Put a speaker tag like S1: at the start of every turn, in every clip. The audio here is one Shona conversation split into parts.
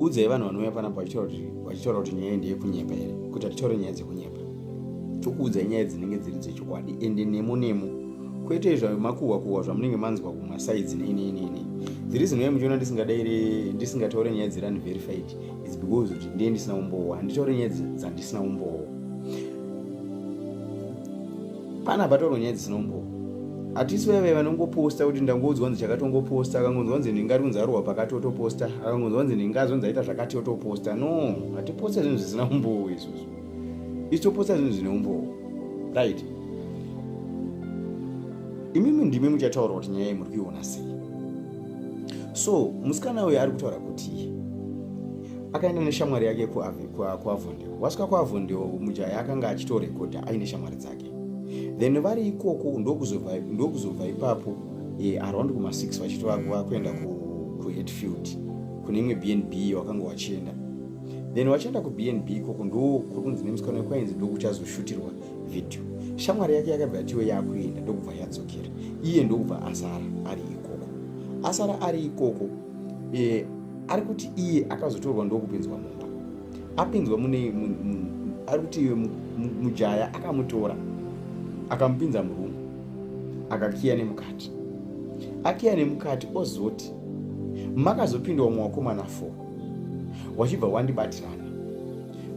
S1: udzai vanhu vanouya panapa vachitaura kuti nyaya ndeyekunyepa here kuti hatitaure nyaya dzekunyepa tokuudzai nyaya dzinenge dziri dzechokwadi ende nemo nemo kwete zvamakuhwa kuhwa zvamunenge manzwa kumasaidzi neineineinei dziri zinoya muchiona ndisingadaire ndisingataure nyaya dziri unverified is because kuti ndiye ndisina umbowo handitaure nyaya dzandisina umbowo Pana patorwa nyaya dzinombo hatisi vaive vanongoposta kuti ndangonzwa nzi chakatongoposta akangonzwa nzi nhinga ari kunzi arohwa pakati otoposta akangonzwa nzi nhinga azonzi aita zvakati otoposta no hatiposta zvinhu zvisina umbowo izvozvo isu toposta zvinhu zvine umbowo right imimi ndimi muchataura kuti nyaya iyi muri kuiona sei so musikana uyo ari kutaura kuti akaenda neshamwari yake kuavondio wasvika kuavondio mujaya akanga achitorekodha aine shamwari dzake then vari ikoko ndokuzobva ipapo e, around kuma 6 vachitova vakuenda kuheadfield kune imwe bnb wakanga wachienda then wachienda kubnb ikoko ndokukunzi nemusikana wekwainzi ndokuchazoshutirwa video shamwari yake yakabva yatiwe yakuenda ndokubva yadzokera iye ndokubva asara ari ikoko asara ari ikoko e, ari kuti iye akazotorwa ndokupinzwa mumba apinzwa mune ari kuti iwe mujaya akamutora akamupinza murumu akakiya nemukati akiya nemukati ozoti makazopinda umwe wakomana fo wachibva wandibatirana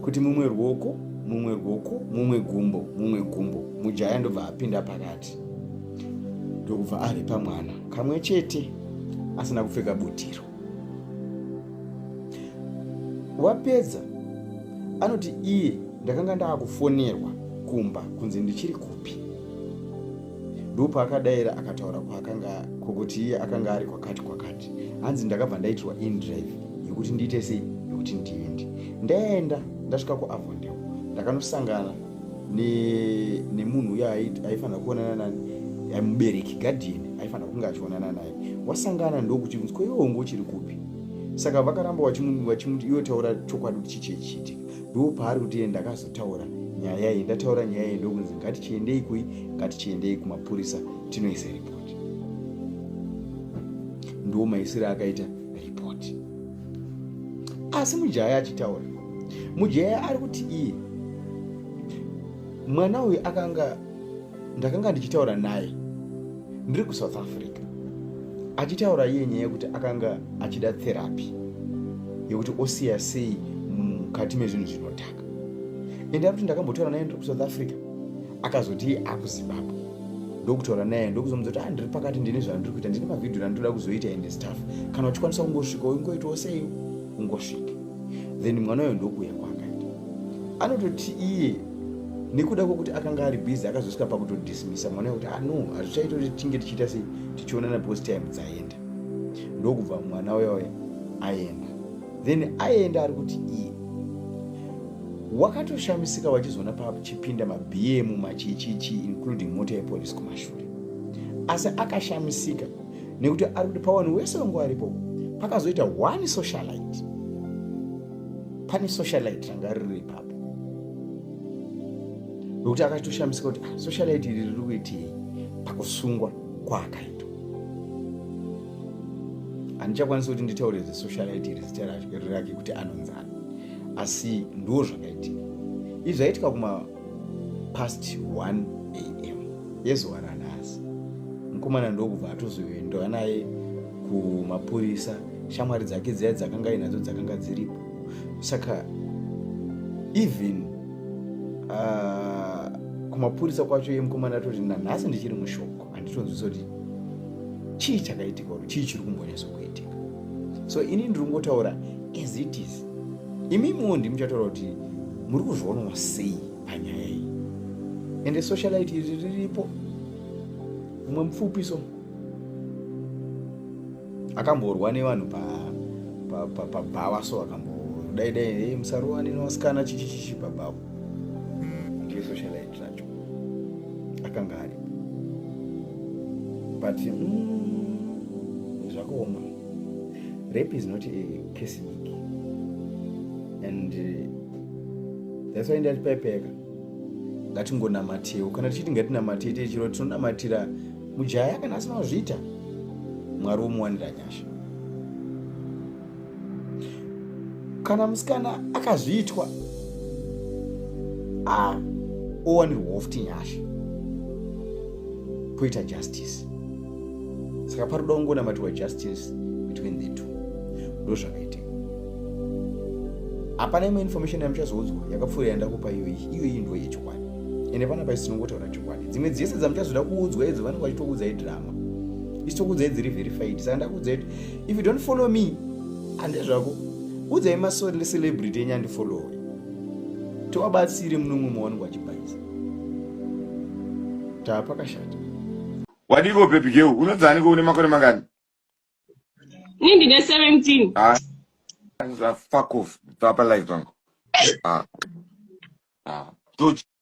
S1: kuti mumwe ruoko mumwe ruoko mumwe gumbo mumwe gumbo mujaya ndobva apinda pakati ndokubva aripa mwana kamwe chete asina kupfeka butiro wapedza anoti iye ndakanga ndaakufonerwa kumba kunzi ndichiri kupi ndopaakadaira akataura kwaakanga kwokuti iye akanga ari kwakati kwakati hanzi ndakabva ndaitirwa indrive yekuti ndiite sei yekuti ndiende ndaenda ndasvika kuavondeo ndakanosangana nemunhu uya aifanira kuonana nani mubereki guardian aifanira kunge achionana naye wasangana ndokuti unzi ko iwe unge uchiri kupi saka vakaramba vachimuti iwe taura chokwadi kuti chichii chiitika ndo paari kuti iye ndakazotaura nyaya iyi ndataura nyaya iyi ndokunzi ngatichiendei kui ngatichiendei kumapurisa tinoisa ripoti ndo maisire akaita ripoti asi mujaya achitaura mujaya ari kuti iye mwana uyu akanga ndakanga ndichitaura naye ndiri kusouth africa achitaura iye nyaya yekuti akanga achida therapy yekuti osiya sei mukati mezvinhu zvinotaka ende ari kuti ndakambotaura naye ndiri kusouth africa akazoti akuzimbabwe ndokutaura naye ndokuzomudza kuti ah, ndiri pakati ndine zvandiri kuita ndine mavhidhiyo randinoda kuzoita ende staff kana uchikwanisa kungosvika ingoitawo sei ungosvika then mwana uyo ndokuuya kwaakaita anototi iye nekuda kwokuti akanga ari busy akazosvika pakutodismisa mwana kuti ano ah, hazvichaita kuti tinge tichiita sei tichionana because time dzaenda ndokubva mwana uya uya aenda then aenda ari kuti iye wakatoshamisika vachizoona pachipinda mabm machichichi including mota yepolisi kumashure asi akashamisika nekuti ari kuti pawanhu wese wangu aripo pakazoita one socialite pane socialite ranga riri ipapo nokuti akatoshamisika kuti ah, socialite iri riri kuitii pakusungwa kwaakaitwa handichakwanisi kuti nditaure zesocialite iri zita rake kuti anonzana asi ndoo zvakaitika izvi zvaitika kuma past 1 am yezuva ranhasi mukomana ndokubva atozoendwa naye kumapurisa shamwari dzake dziya dzakanga inadzo dzakanga dziripo saka even uh, kumapurisa kwacho yemukomana atoti nanhasi ndichiri mushoko handitonzwisa kuti chii chakaitika or chii chiri kumbonyaso kuitika so ini ndiri kungotaura as it is imi imiwo ndi muchataura kuti muri kuzvionwa sei panyaya iyi ende socialite iri riripo umwe mupfupi so akamborwa nevanhu pabhawa so akambo dai dai musarowani nevasikana chichichichi pabhawa ndiyo socialite zvacho akanga ari but mm, zvakaoma rape is not a case week and uh, that's why ndati paipeka ngatingonamatewo kana tichiti ngatinamate te chiro tinonamatira mujaya kana asina kuzviita mwari womuwanira nyasha kana musikana akazviitwa a owanirwawo futi nyasha poita justice saka paroda kungonamatiwa justice between the two ndo zvakaitika hapana imwe information yamuchazoudzwa yakapfuura yandakupa iyoyi iyoyi ndo yechokwadi ende pana pai sinongotaura chokwadi dzimwe dzese dzamuchazoda kuudzwa idzo vanenge vachitokuudzai drama isitokuudzai dziri verified saka ndakuudzai if you don't follow me hande zvako udzai masori necelebrity enyu andifollowe tiwabatsire munomwe mawanenge wachibhaisa taa pakashata wadiko
S2: bebi geu unodzaniko une makore mangani
S3: ini ndine 17 ah, ah,
S2: fuck off bva palive pangu ah. ah.